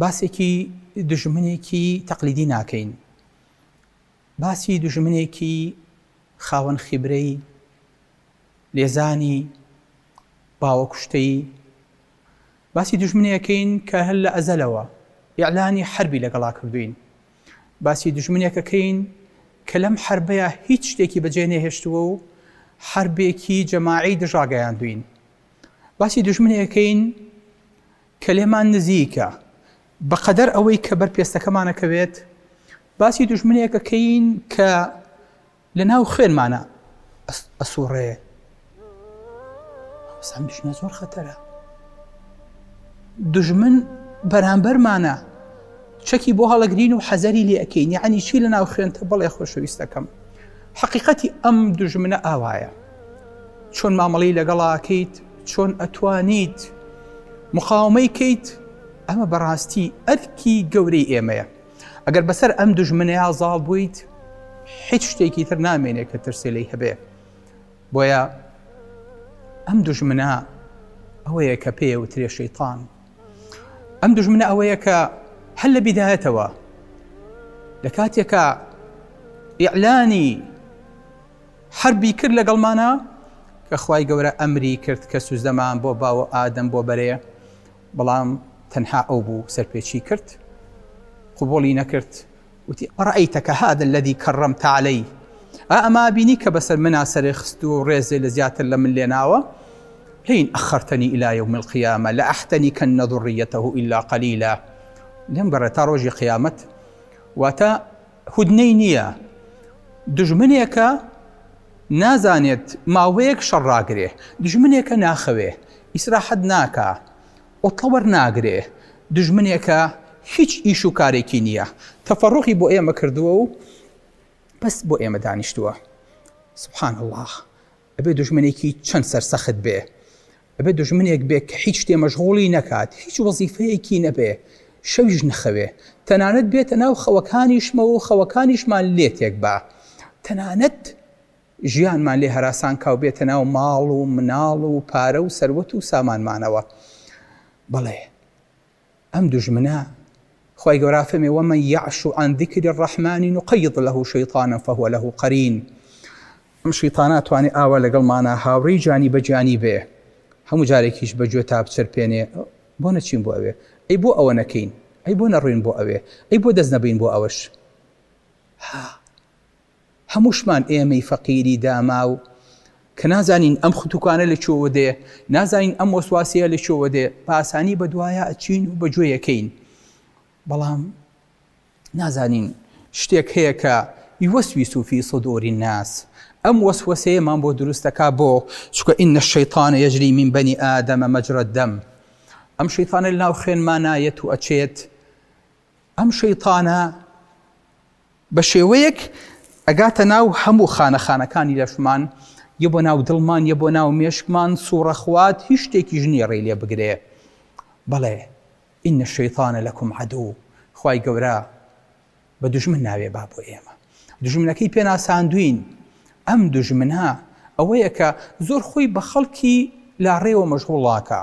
باسێکی دوژمنێکی تەقلیدی ناکەین، باسی دوژمنێکی خاوەن خیبرەی لێزانی باوە کوشتەیی، باسی دوژمنێکەکەین کە هەر لە ئەزەلەوە ئیعلانی حەربی لەگەڵا کردووین، باسی دوژمنێکەکەین کە لەم حەربەیا هیچ شتێکی بەجێ نەهێشتووە و حەربێکی جەماعی دژاگەیاندووین، باسی دوژمنێکەکەین، کە لێمان نزیکە، بەقەدەر ئەوەی کە بەر پێستەکەمان ئەکەوێت، باسی دوژمنێک ئەکەین کە لە ناو خوێنمانا ئەسوڕێ. ئەم دوژمنە زۆر خەتەرە. دوژمن بەرامبەرمانە چەکی بۆ هەڵەگرین و حەزەری لێ ئەکەین یعنی چی لە ناو خوێنتە بڵێ خۆشەویستەکەم. حقیقەتی ئەم دوژمنە ئاوایە. چۆن مامەڵەی لەگەڵا ئەکەیت چۆن ئەتوانیت مقاومەی کەیت ئەمە بەڕاستی ئەرکی گەورەی ئێمەیە ئەگەر بەسەر ئەم دژمنەیە زاڵ بوویت هیچ شتێکی تر نامێنێت کە ترسێ لی هەبێ بۆیە ئەم دژمنە ئەوەیە کە پێ و ترێ شەیتان ئەم دژمنە ئەوەیە کە هەل لە بیدایەتەوە لە کاتێکە ئیعلانی حەربی کرد لەگەڵمانا کە خوای گەورە ئەمری کرد کە سوزدەمان بۆ باو و ئادەم بۆ بەرێ بەڵام تەنها ئەو بوو سەرپێچی کرد قبوڵی نەکرد وتی ئەڕەئیتەکە هادا الذی کەڕەمتە عەلەی ئا ئەمە بینی کە بەسەر منا سەرێ خست و ڕێزێ لە زیاتر لە من لێ ناوە لئن ئەخەرتەنی الی یوم القیامە لئەحتەنیکەن ذریەتە الا قلیلا لێم گەڕێ تا ڕۆژی قیامەت واتە هودنەی نییە دوژمنێکە نازانێت ماوەیەک شەڕ ڕاگرێ دوژمنێکە ناخەوێ ئیسراحەت ناکا عوتڵە وەرناگرێ دوژمنێکە هیچ ئیش و کارێکی نییە تەفەڕۆخی بۆ ئێمە کردووە و بەس بۆ ئێمە دانیشتووە سبحان الله ئەبێ دوژمنێکی چەند سەرسەخت بێ ئەبێ دوژمنێک بێ کە هیچ شتێ مەشغوڵی نەکات، هیچ وەزیفەیەکی نەبێ، شەویش نەخەوێ، تەنانەت بێتە ناو خەوەکانیشمەوە و خەوەکانیشمان لێ تێک با، تەنانەت ژیانمان لێ هەراسان کا و بێتە ناو ماڵ و مناڵ و پارە و سەروەت و سامانمانەوە. بەڵێ! ئەم دوژمنە، خوای گەورە فەرمی، ومن یعش عن ذکر الرحمن نقید له شیطانا فهو له قرین، ئەم شیطانە توانێ ئاوا لەگەڵمانا هاوڕێی جانی بە جانی بێ، هەموو جارێکیش بە گوێتا بچرپێنێ، بۆ نەچین بۆ ئەوێ، ئەی بۆ ئەوە نەکەین، ئەی بۆ نەڕۆین بۆ ئەوێ، ئەی بۆ دەست نەبەین بۆ ئەوەش، ها، هەمووشمان ئێمەی فەقیری داماو کە نازانین ئەم ختوکانە لە کوێوە دێ، نازانین ئەم وەسواسەیە لە کوێوە دێ، بە ئاسانی بە دوایا ئەچین و بە گوێی ئەکەین، بەڵام نازانین شتێک هەیە کە یوسویسو فی صدور الناس ئەم وەسوەسەیەمان بۆ دروست دەکا بۆ چونکە ان الشیطان یجری من بنی آدم مجرى الدم ئەم شەیتانە لەناو خوێنمانایەت و ئەچێت ئەم شەیتانە بە شێوەیەک ئەگاتە ناو هەموو خانە خانەکانی لەشمان یە بۆ ناو دڵمان یە بۆ ناو مێشکمان سوڕەخوات هیچ شتێکی ژنی ڕێ لێ بگرێ بەڵێ ئینە شەیتانە لەکم عدو خی گەورە بە دژمن ناوێ با بۆ ئێمە دژمنەکەی پێناساندوین ئەم دژمنە ئەوەیە کە زۆر خۆی بە خەڵکی لا ڕێوە مەشغوڵاکە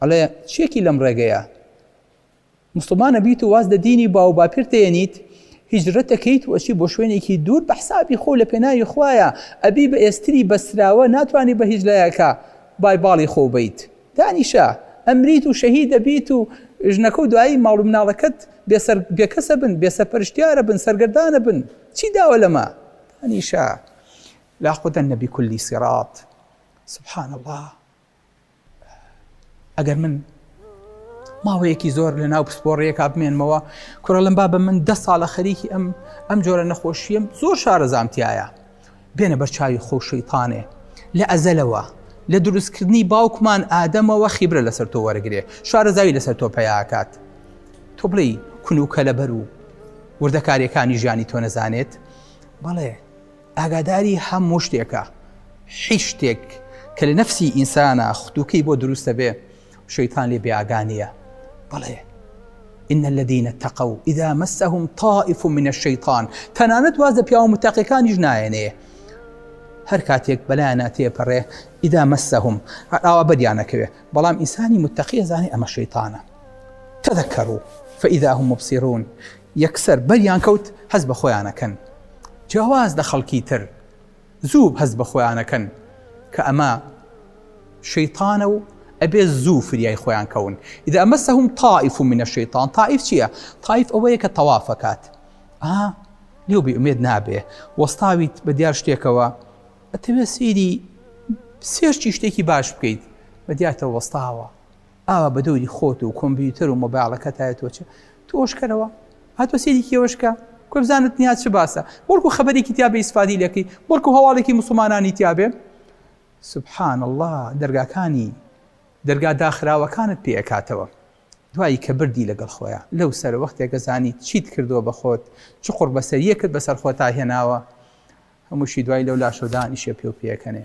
ئەڵێ چیەکی لەم ڕێگەیە مسڵمانە بیت و واز لە دینی باو باپیرت دێنیت هیجرەت دەکەیت و ئەچی بۆ شوێنێکی دوور بە حسابی خۆ لە پێناوی خوایە ئەبی بە ئێستری بەستراوە ناتوانانی بە هیچ لایەکە بای باڵی خۆ بیت دانیشە ئەمریت و شەهید دەبیت و ژنەکە و دوایی ماڵ و مناڵەکەت بێسەر بێکەسە بن بێسەرپەرشتیارە بن سەرگردانە بن چی داوە لەمە دانیشە لا خودە نەبی کولی سیڕات سبحان الله ئەگەر من ماوەیەکی زۆر لە ناو پسپۆڕیەکە بمێنمەوە کوڕە لەم بابە من دە ساڵە خەریکی ئەم ئەم جۆرە نەخۆشیم زۆر شارەزانتیایە بێنە بەرچاوی خۆشەیتانێ لە ئەزەلەوە لە دروستکردنی باوکمان ئادەمەوە خیبرە لەسەر تۆ وەرگێ شارەزاوی لەسەر تۆ پیاکات تۆ بڵێ کونوکە لەبەر و وردەکاریەکانی ژیانی تۆ نەزانێت بەڵێ ئاگاداری هە موو شتێکە هیچ شتێک کە لە نەفسی ئینسانە ختوکەی بۆ دروستە بێ شەیتان لێ بێئاگانە بەڵێ إن الذين اتقوا إذا مسهم طائف من الشيطان تەنانەت واز لە پیاوە متەقەکانیش نایەنێ هەر کاتێک بەلایەنە تێپەڕێ ئیدا مەسەهم ئاوا بەریانەکەوێ بەڵام ئینسانی متەقیە زانانی ئەمە شەیتانە تەذەکەڕوو فإذا هم مبصرون یەکسەر بەریان کەوت هەست بە خۆیانەکەن جیاواز لە خەڵکی تر زوو هەست بە خۆیانەکەن کە ئەمە شەیتانە و ئەبێ زوو فریای خۆیان کەون ئیدا ئەمە سەهم تائیف و منە شەیتان تائیف چییە تائیف ئەوەیە کە تەوافەکات ئا لێو بێ ئومێد نابێ وەستاویت بە دیار شتێکەوە ئەتەوێ سەیری سێرچی شتێکی باش بکەیت بە دیاتە وەستاوە ئاوا بە دەوری خۆت و کۆمپیوتەر و مۆبایڵەکەتایە تۆ چ تۆش کەرەوە هاتۆ سێری کێوەشکە کۆ بزانت تنیا چ باسە بەڵکو خەبەرێکی تیا بە ئیسفادی لەکەی بەڵکو هەواڵێکی مسلمانانی تیاابێ سبحان الله دەرگاکانی دەرگا داخراوەکانت پێ ئەکاتەوە دوایی کە بردی لەگەڵ خۆیان لەو سەر وەختێک گەزانی چیت کردووە بە خۆت چ قڕ بەسەریەکت بەسەر خۆتا هێناوە هەمووشی دوای لەو لاشەدانیشە پێ و پێەکەنێ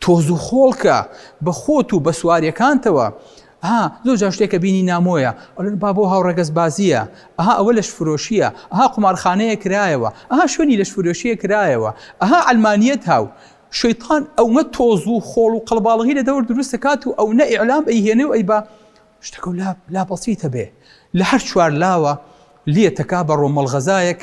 تۆز و خۆڵکە بە خۆت و بە سواریەکانتەوە ها زۆر جا شتێکە بینی نامۆیە ئەلون با بۆ هاوڕێگەز بازیە ئەها ئەوە لەش فرۆشیە ئەها قمارخانەیە کرایەوە ئەها شوێنی لەش فرۆشیە کرایەوە ئەها ئەلمانیت هاو شەیتان ئەوە تۆز و خۆڵ و قەڵباڵغی لە دەور دروست دەکات و ئەو نە ئیعلام ئەی هێنێ و ئەی بە شتەکە و لا بەسیتە بێ لە هەر چوار لاوە لێتەکا بە ڕۆمەڵغەزایەک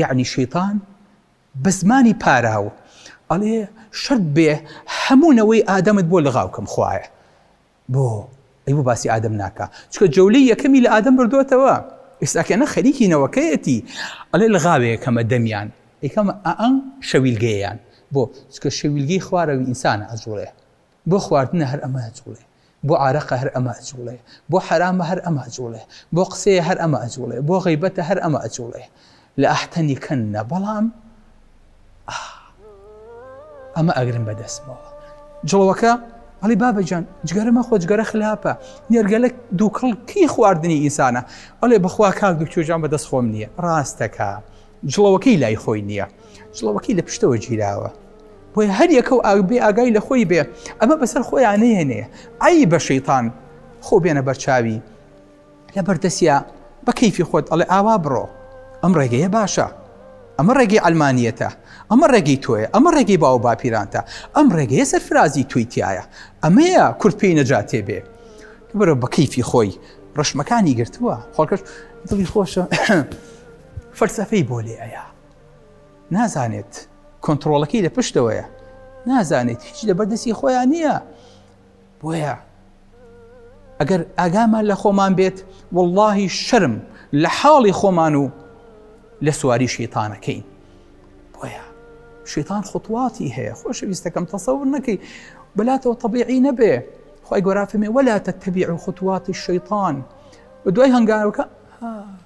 یەعنی شەیتان بە زمانی پاراو ئەڵێ شەرت بێ هەموو نەوەی ئادەمت بۆ لغاو کەم خوایە بۆ ئەی بۆ باسی ئادەم ناکە چکە جەولەی یەکەمی لە ئادەم بردوێتەوە ئێستاکەنە خەریکی نەوەکەیەتی ئەڵێ لە غاوەیە کەمە دەمیان ئەیکەمە ئەم شەویلگەیان بۆ چکە شەویلگەی خوارەوی ئینسانە ئەجوڵێ بۆ خواردنە هەر ئەمە ئەجوڵێ، بۆ عارەقە هەر ئەمە ئەجوڵێ، بۆ حەرامە هەر ئەمە ئەجوڵێ، بۆ قسەیە هەر ئەمە ئەجوڵێ، بۆ غەیبەتە هەر ئەمە ئەجوڵێ، لەئەحتەنیکەن بەڵام ئاه ئەمە ئەگرم بە دەستمەوە. جڵەوەکە ئەڵی بابەجان جگەرە مەخۆ جگەرە خلاپە نێرگەلە دووکڵ کی خواردنی ئینسانە ئەڵێ بەخوا کاک دوکتۆجان بە دەست خۆم نییە ڕاستەکە. جڵەوەکەی لای خۆی نییە جڵەوەکەی لە پشتەوە گیراوە بۆیە هەر یەکە و ئاگبێ ئاگای لە خۆی بێ ئەمە بەسەر خۆیان نهێنێ ئەی بە شەیتان خۆ بێنە بەرچاوی لە بەردەسیا بە کەیفی خۆت ئەڵێ ئاوا بڕۆ ئەم ڕێگەیە باشە ئەمە ڕێگەی ئەلمانیەتە ئەمە ڕێگەی تۆیە ئەمە ڕێگەی باو باپیرانتە ئەم ڕێگەیە سەرفرازی توی تایە ئەمەیە کورت پێی نەجاتێ بێ بەرە بە کەیفی خۆی ڕشمەکانی گرتووە خۆکەش دڵی خۆشە فەلسەفەی بۆ لێ ئەیا نازانێت کۆنتترۆڵەکەی لە پشتەوەیە نازانێت هیچ لە بەردەسی خۆیان نییە بۆیە ئەگەر ئاگامان لە خۆمان بێت واللهی شەرم لە حاڵی خۆمان و لە سواری شیتانەکەین بۆیە شیتان خطواتی هەیە خۆشەویستەکەم تەسەور نەکەی بەلاتەوە طبیعی نەبێ خی گۆرافەمێ وەلا تەتەبیع و خطواتی شەیطان و دوای هەنگاوەکە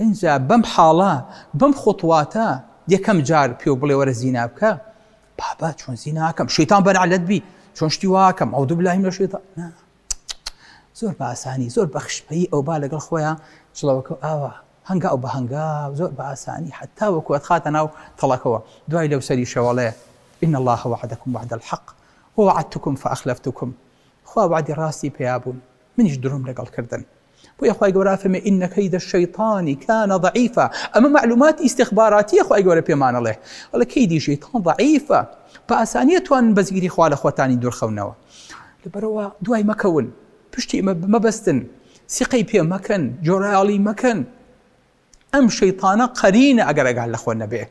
ئینجا بەم حاڵە، بەم خوتواتە، یەکەم جار پێو بڵێ وەرە زینا بکە، بابە چۆن زینا ئەکەم، شەیتان بەنەعلەت بی، چۆن شتی وا ئەکەم، ئەعوذباللە من الشیطان، نا، زۆر بە ئاسانی، زۆر بە خشپەیی ئەو با لەگەڵ خۆیان جڵەوەکە و ئاوا، هەنگاو بە هەنگاو، زۆر بە ئاسانی، هەتاوەکو ئەتخاتە ناو تەڵەکەوە، دوای لەو سەریشەوە ئەڵێ، ان اللە وعدکم وعد الحق ووعدتکم فاخلفتکم، خوا وەعدی ڕاستی پیا بوون، منیش درۆم لەگەڵ کردن. بۆیە خوای گەورە ئەفەرمێ ان کید الشیطان کان ضعیفا ئەمە معلوماتی استخباراتیە خوای گەورە پێمانەڵێ ئەڵێ کیدی شەیتان ضعیفە بە ئاسانیە توان بە زیری خوا لە خۆتانی دوورخەونەوە لەبەرەوە دوای مەکەون پشتی مەبەستن سیقەی پێ مەکەن جۆراڵی مەکەن ئەم شەیتانە قەرینە ئەگەر ئەگال لە خۆ نەبێ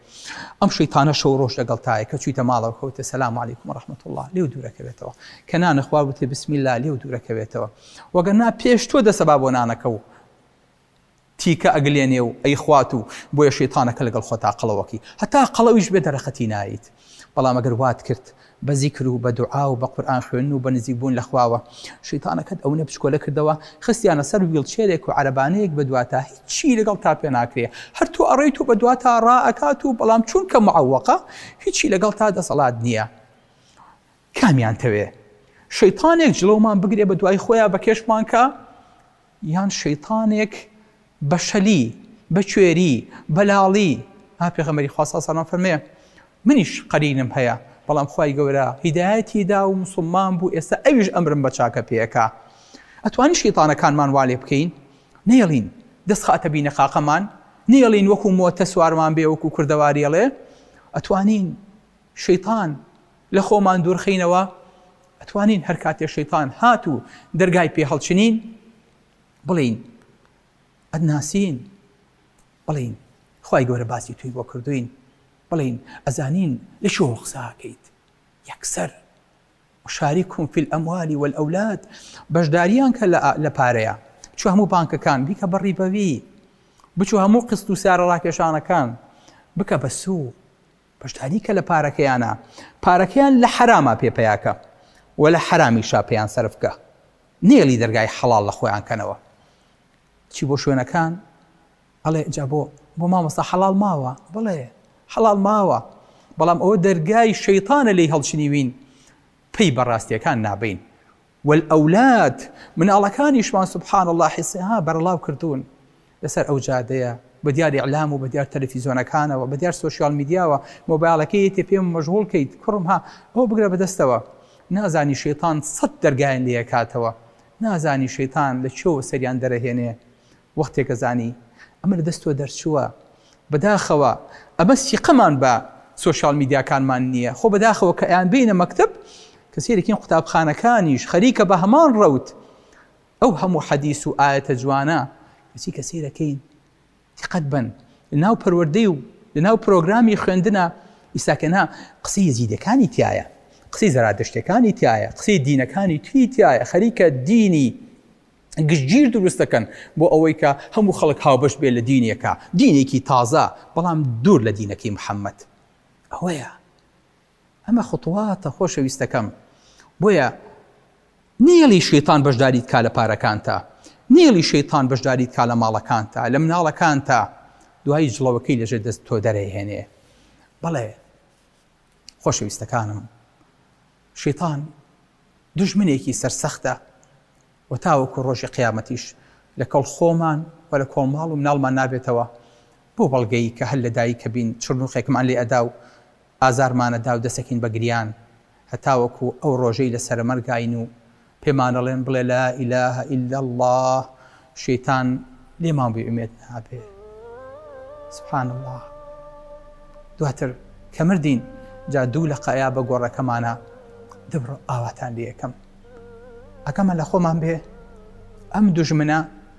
ئەم شەیتانە شەو ڕۆژ لەگەڵ تایە کە چویتە ماڵەوە کەوتە سەلام علیکم و رحمت الله لێو دوورەکەوێتەوە کە نانەخوا وتێ بسم الله لێو دوورەکەوێتەوە وەگە نا پێش تۆ دەسەبا بۆ نانەکە و تیکە ئەگلێنێ و ئەیخوات و بۆیە شەیتانەکە لەگەڵ خۆتا قەڵەوەکی هەتا قەڵەویش بێ دەرەقەتی نایت بەڵام ئەگەر وات کرد بە زیکر و بە دوعا و بە قورئان خوێندن و بە نزیک بوون لە خواوە شەیتانەکەت ئەونە بچکۆلە کردەوە خستیانە سەر ویڵچێرێک و عەرەبانەیەک بە دواتا هیچی لەگەڵ تا پێ ناکرێ هەر تۆ ئەڕێیت و بە دواتا ڕا ئەکات و بەڵام چونکە معەوەقە هیچی لەگەڵ تا دەسەڵات نییە کامیان تەوێ شەیتانێک جڵەومان بگرێ بە دوای خۆیان بە کێشمان کا یان شەیتانێک بە شەلی، بە کوێری، بە لاڵی، ها پێغەمبەری خوا صلی اللە علیە و سلم فەرمێ منیش قەرینم هەیە بەڵام خوای گەورە هیدایەتی دا و موسڵمان بوو ئێستا ئەویش ئەمرم بە چاکە پێ ئەکا ئەتوانین شەیتانەکانمان وا لێ بکەین نەیەڵین دەست خاتە بینە قاقەمان نەیەڵین وەکو مۆتە سوارمان بێ وەکو کوردەواری ئەڵێ ئەتوانین شەیتان لە خۆمان دوورخینەوە ئەتوانین هەر کاتێ شەیتان هات و دەرگای پێ هەڵچنین بڵین ئەتناسین بڵین خی گەورە باسی توی بۆ کردوین بڵین ئەزانین لە شۆ قساکەیت یەکسەر شاری کومفیل ئەموالی وەل ئەولاد بەشداریان کە لە پارەیە چ هەموو بانکەکان بیکە بەڕی بەوی بچوو هەموو قست و سارە ڕاکێشانەکان بکە بە سوو پشتانی کە لە پارەکەیانە پارەکەیان لە حەرامە پێ پیاکە و لە حەرامیشا پێیان سەرفکە نێڵی دەرگای حەڵال لە خۆیان کەنەوە چی بۆ شوێنەکان ئەڵێ جا بۆ بۆ مامۆستا حەڵال ماوە بڵێ حەڵال ماوە بەڵام ئەوە دەرگای شەیتانە لی هەڵچنیوین پێی بەڕاستیەکان نابین والاولاد، مناڵەکانیشمان سبحان اللە حسها بەرڵاو کردوون لەسەر ئەو جادەیە بەدیار اعلام و بەدیار تەلەفیزۆنەکانەوە بەدیار سۆشیال میدیاوە مۆبایڵەکەی یەتێ پێم مەژغوڵ کەیت کوڕم ها ئەوە بگرە بەدەستەوە نازانی شەیتان سەد دەرگایان لێ ئەکاتەوە نازانی شەیتان لە کوێوە سەریان دەرەهێنێ وەختێکە زانی ئەمە لە دەست تۆ دەرچووە. بەداخەوە ئەمە سیقەمان بە سۆشیال میدیاکانمان نییە، خۆ بەداخەوە کە ئەیانبەینە مەکتەب کە سەیرەکەین قوتابخانەکانیش خەریکە بە هەمان ڕەوت ئەو هەموو حەدیس و ئایەتە جوانە کەچی کە سەیرەکەین دیقەت بەن لەناو پەروەردەی و لەناو پرۆگرامی خوێندنە ئیستا کە نا قسەی یەزیدەکانی تایە قسەی زەرادشتەکانی تایە قسەی دینەکانی تری تایە خەریکە دینی گشتگیر دروست دەکەن بۆ ئەوەی کە هەموو خەڵک هاوبەش بێت لە دینێکا، دینێکی تازە بەڵام دوور لە دینەکەی محەممەد. ئەوەیە ئەمە خوتواتە خۆشەویستەکەم. بۆیە نێڵی شەیتان بەشداریت کا لە پارەکانتا، نێڵی شەیتان بەشداریت کا لە ماڵەکانتا، لە مناڵەکانتا، دوایی جڵەوەکەی لەژێر دەست تۆ دەرەیهێنێ. بەڵێ. خۆشەویستەکانم شیتان دژمنێکی سەرسەختە و تاوەکو ڕۆژی قیامەتیش لە کەڵ خۆمان و لە کۆماڵ و مناڵمان نابێتەوە بۆ بەڵگەی کە هەر لە دایک کە بین چرنوخێکمان لێ ئەدا و ئازارمانەدا و دەسەکین بە گریان هەتاوەکو ئەو ڕۆژەی لە سەرەمەرگاین و پێمان ئەڵێن بڵێ لا الە الا اللە شەیتان لێمان بی ئومێد نابێ سبحان اللە دواتر کە مردین جا دوو لە قایا بە گۆڕەکەمانە دەبڕ ئاواتان لە یەکەم ئەکەمە لە خۆمان بێ ئەم دوژمنە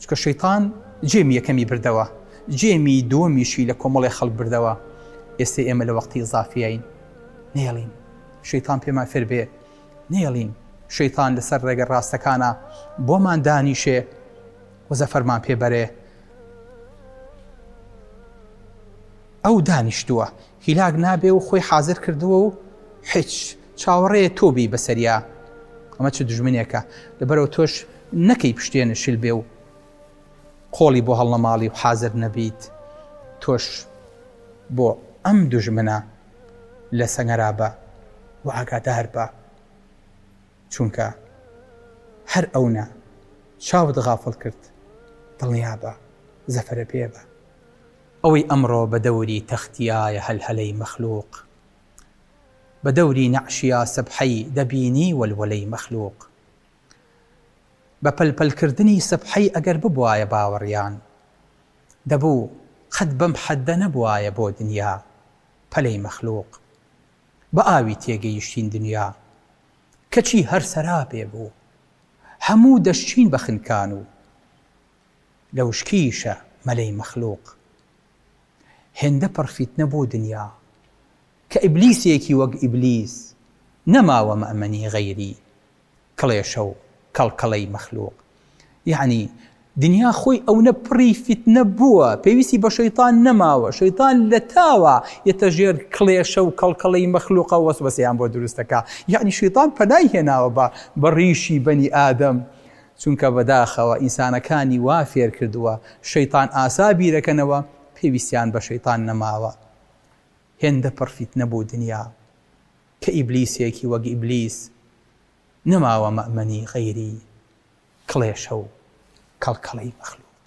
چونکە شەیتان جێمی یەکەمی بردەوە جێمی دووەمیشی لە کۆمەڵی خەڵک بردەوە ئێستەی ئێمە لە وەختی زافیین نێڵین شەیتان پێمان فێر بێ نێڵین شەیتان لەسەر ڕێگە ڕاستەکانە بۆمان دانیشێ وەزە فەرمان پێبەرێ ئەو دانیشتووە هیلاک نابێ و خۆی حازر کردووە و هیچ چاوەڕێیە تۆ بێی بەسەریا ئەمە چ دژمنێکە لەبەرەوە تۆش نەکەی پشتێنە شل بێ و قۆڵی بۆ هەڵنەماڵی و حازر نەبیت تۆش بۆ ئەم دژمنە لە سەنگەرا بە و ئاگادار بە چونکە هەر ئەونە چاوت غافڵ کرد دڵنیا بە زەفەرە پێ بە ئەوەی ئەمڕۆ بە دەوری تەختیایە هەلهەلەی مەخلوق بە دەوری نەعشیا سەبحەی دەبینی وەلوەلەی مەخلوق بە پەل پەل کردنی سەبحەی ئەگەر ببوایە باوەڕیان دەبوو قەت بەم حەددە نەبوایە بۆ دنیا پەلەی مەخلوق بە ئاوی تێگەیشتین دنیا کەچی هەر سەرابێ بوو هەموو دەشچین بە خنکان و لەوشکیشە مەلەی مەخلوق هێندە پڕ فیتنە بۆ دنیا کە ئیبلیسێکی وەک ئیبلیس نەماوە مەمەنی غەیری کڵێشە و کەڵکەڵەی مەخلوق یەعنی دنیا خۆی ئەونە پڕی فیتنە بووە پێویستی بە شەیتان نەماوە شەیتان لە تاوە یەتە ژێر کڵێشە و کەڵکەڵەی مەخلوقە وەسوەسیان بۆ دروستەکە یەعنی شەیتان پەنای هێناوە بە بە ڕیشی بەنی ئادەم چونکە بەداخەوە ئینسانەکانی وا فێر کردووە شەیتان ئاسا بیرەکەنەوە پێویستیان بە شەیتان نەماوە هێندە پڕ فیتنە بوو دنیا کە ئیبلیسێکی وەک ئیبلیس نەماوە مەئمەنی غەیری کڵێشە و کەڵکەڵەی مەخلوق.